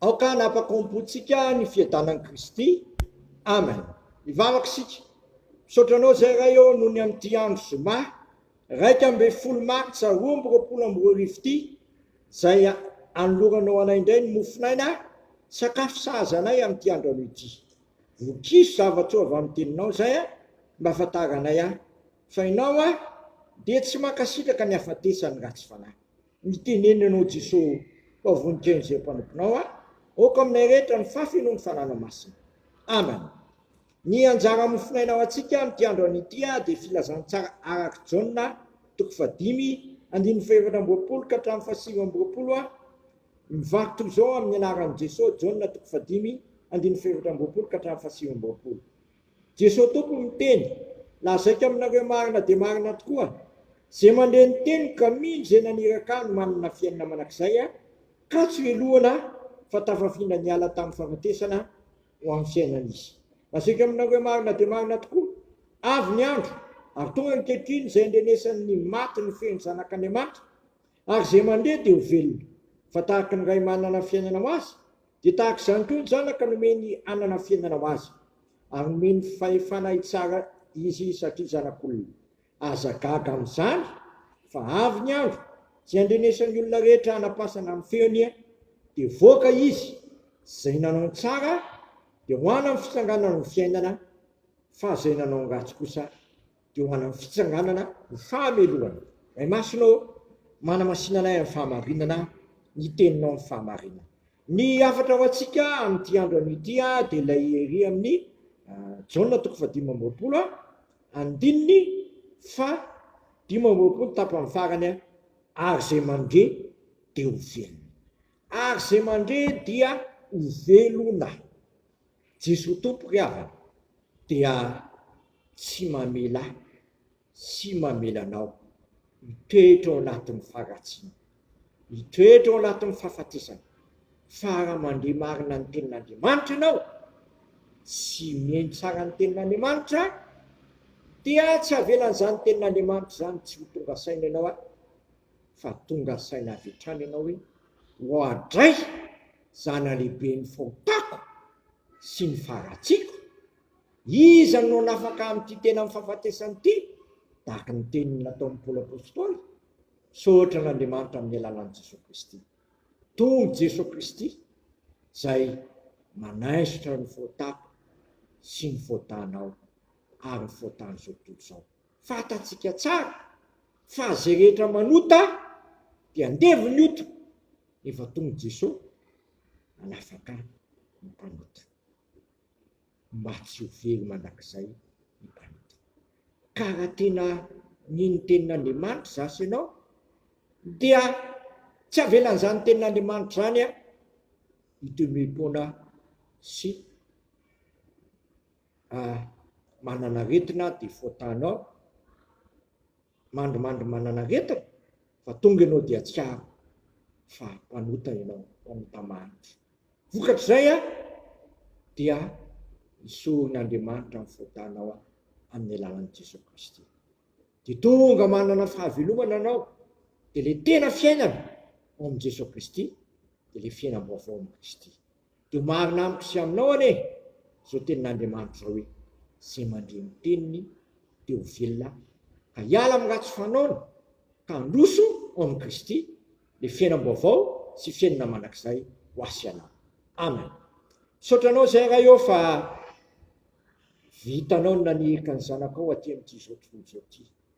Aoka hanapakompontsika ny fiadanan'i Kristy. Amen. Hivavaka isika. Misaotra anao izay Ray ô noho ny amin'ity andro zoma iraika ambin'ny folo martsa roa amby roapolo amby roa arivo ity izay anoloranao anay indray ny mofon'aina sakafo sahaza anay amin'ity andro anio ity. Vokiso zava-tsoa avy amin'ny teninao izay a mba ahafantaranay ahy fa ianao aho dia tsy mankasitraka ny hafatesan'ny ratsy fanahy. Mitenena ianao Jeso fa voninkaino zay mpanomponao a! Aoka aminay rehetra ny fafy noho ny fananao masina. Amen. Ny anjara mofonaina ho antsika amin'ity andro anio ity dia filazantsara arak'i Jaona toko fahadimy andininy fahefatra amby roapolo ka hatramin'ny fahasivy amby roapolo a! Mivaky toy izao amin'ny anaran'i Jeso, Jaona toko fahadimy andininy fahefatra amby roapolo ka hatramin'ny fahasivy amby roapolo. Jesoa Tompo miteny, lazaiko aminareo marina dia marina tokoa, ze mandre ny teniko ka mino ze naniraka ahy no manana fiainana manak'izay a, katso helohina fa tafafindra niala tamin'ny fahafatesana ho amin'ny fiainana izy. Lazaiko aminareo marina dia marina tokoa, avy ny andro ary tonga ankehitriny zay andrenesan'ny maty ny feon'ny Zanak'Andriamanitra, ary ze mandre dia ho velona, fa tahaka ny Ray manana fiainana ho azy Dia tahaka izany koa ny Zanaka nomeny hanana fiainana ho azy, ary nomeny fahefana hitsara izy satria Zanak'olona. Aza gaga amin'izany, fa avy ny andro tsy handrenesan'ny olona rehetra hanapasana amin'ny feony, dia voaka izy, izay nanao ny tsara dia ho anany fitsanganana ho fiainana, fa izay nanao ny ratsy kosa dia ho an'ny fitsanganana ho fahamelohana. Ray Masina ô, manamasina anay amin'ny fahamarinana ny Teninao amin'ny fahamarinana. Ny hafatra ho antsika amin'ity andro anio ity dia ilay ery amin'ny Jaona toko fahadimy amby roapolo andininy faha dimy amby roapolo tapany farany ary izay mandre dia ho velona. Ary izay mandre dia ho velona. Jesoa Tompo ry havana dia tsy mamela sy mamela anao hitoetra ao anatin'ny faharatsiana, hitoetra ao anatin'ny fahafatesana, fa raha mandre marina ny tenin'Andriamanitra ianao sy mihaino tsara ny tenin'Andriamanitra dia tsy avelan'izany tenin'Andriamanitra izany tsy ho tonga saina ianao a! fa tonga saina avy hatrany ianao hoe, Oadray! Zanalehibe ny fahotako sy ny faharatsiako! Iza no hanafaka ahy amin'ity tenan'ny fahafatesana ity? tahaka ny teniny nataon'i Paoly Apostoly. Misaotra an'Andriamanitra amin'ny alalan'i Jesoa Kristy. Tonga Jesoa Kristy izay manaisotra ny fahotako sy ny fahotanao ary ny fahotan'izao tontolo izao. Fantatsika tsara fa zay rehetra manota dia andevo ny ota, efa tonga Jeso hanafaka ny mpanota, mba tsy ho very mandrakizay ny mpanota. Ka raha tena mino ny tenin'Andriamanitra za sy ianao dia tsy avelan'izany tenin'Andriamanitra izany hitoemepoana sy manana aretina dia fôtanao, mandrimandry manana aretina fa tonga ianao dia tsiaro fa mpanota ianao, mpanota maro. Vokatr'izay a, dia isoron'Andriamanitra ny fôtanao a, amin'ny alalan'i Jesoa Kristy. Dia tonga manana fahavelomana anao, dia le tena fiainana ao amin'i Jesoa Kristy, dia le fiainam-baovao amin'i Kristy. Dia marina amiko sy aminao anie izao tenin'Andriamanitra izao hoe, Izay mandre ny teniny dia ho velona, ka hiala amin'ny ratsy fanaony, ka handroso ao amin'i Kristy, dia fiainam-baovao sy fiainana mandrakizay ho ahy sy anao. Amen. Misaotra anao izay Ray ô fa vitanao ny nanirika ny zanakao aty amin'ity izao tontolo izao ity.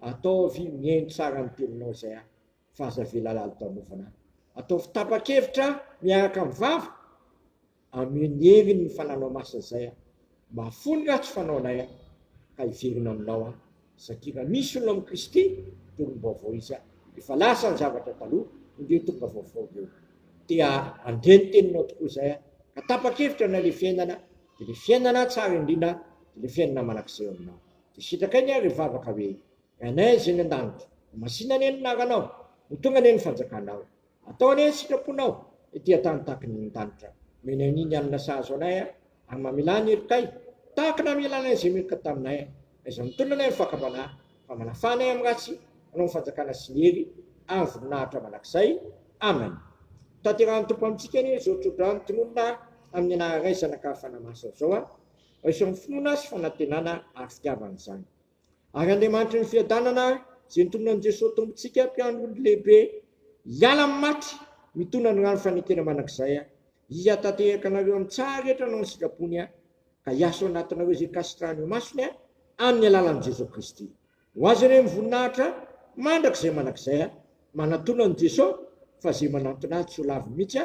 Ataovy mihaino tsara ny mpirinao izay ahy fa aza avela lalodanofana ahy. Ataovy tapa-kevitra miaraka amin'ny vava, ameo ny heriny ny fananao masina izay aho. Mahafoy ny ratsy fanaonay aho ka hiverina aminao aho satria raha misy olona amin'i Kristy dia olom-baovao izy aho, efa lasa ny zavatra taloha, indreo tonga vaovao ireo. Te handre ny teninao tokoa izay aho ka tapa-kevitra na ilay fiainana dia ilay fiainana tsara indrindra dia ilay fiainana mandrakizay eo aminao. Dia sitrakai ny ary hivavaka hoe, Ranay izay any an-danitra, ho masina anie ny anaranao, ho tonga anie ny fanjakanao. Atao anie ny sitraponao ety an-tany tahaka ny any an-danitra. Omenay anie ny hanina sahaza anay ary mamela ny herikay, tahaka ny namelanay izay meloka taminay ary izay mitondra anay amin'ny fahakambanà, fa manafà anay amin'ny ratsy, hanao ny fanjakana sy ny hery ary voninahitra mandrakizay. Amen. Hotanterahan'ny Tompo amintsika anie izao tsodrano tononina amin'ny anara Ray, Zanaka ary Fanahy Masina izao an. izao ny finoana sy fanantenana ary fitiavana izany. Ary Andriamanitry ny fiadanana, izay nitolona an'i Jesoa Tompontsika, Mpiangon'ny Lehibe, hiala amin'ny maty, mitona ny rano fanekena mandrakizay, Izy hatatehaka anareo amin'ny tsaha rehetra anao ny sitrapony, ka hiasa ao anatinareo izay kasitrahany ho masony, amin'ny alalan'i Jesoa Kristy. Ho Azy anie ny voninahitra mandrakizay mandrakizay. Manatona an'i Jesoa fa izay manantona Azy tsy ho lavo mihitsy.